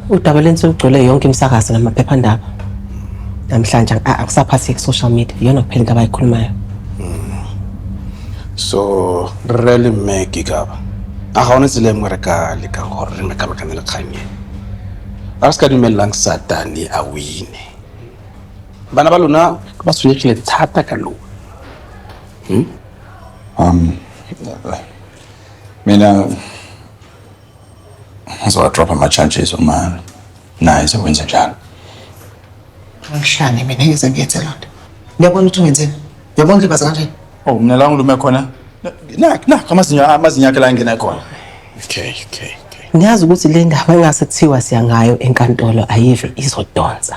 Udaba leni selugcwele yonke imisakazo namaphephandaba. Namhlanje a- akusaphasi social media iyona kuphela into abayikhulumayo. so re le mme ke kaba a ga one tsela e nngwe re ka lekang gore re mekamekane le kgang e a re se ka dumelelang satane a wine bana ba lona ba tshwenyegile thata ka lona um mina Ngizowatropha ama-charges uma naye sekwenze njalo. Ngishane mina ngeze ngiyenze loo nto. Ngiyabona ukuthi ungenzeni. Ngiyabona ulibaza kanjani. Oh, mina la ngilume khona. Nakho nakho amazinyo amazinyo akhe la ngena khona. Okay, okay. Ngiyazi ukuthi le ndaba engase kuthiwa siya ngayo enkantolo ayive izodonsa.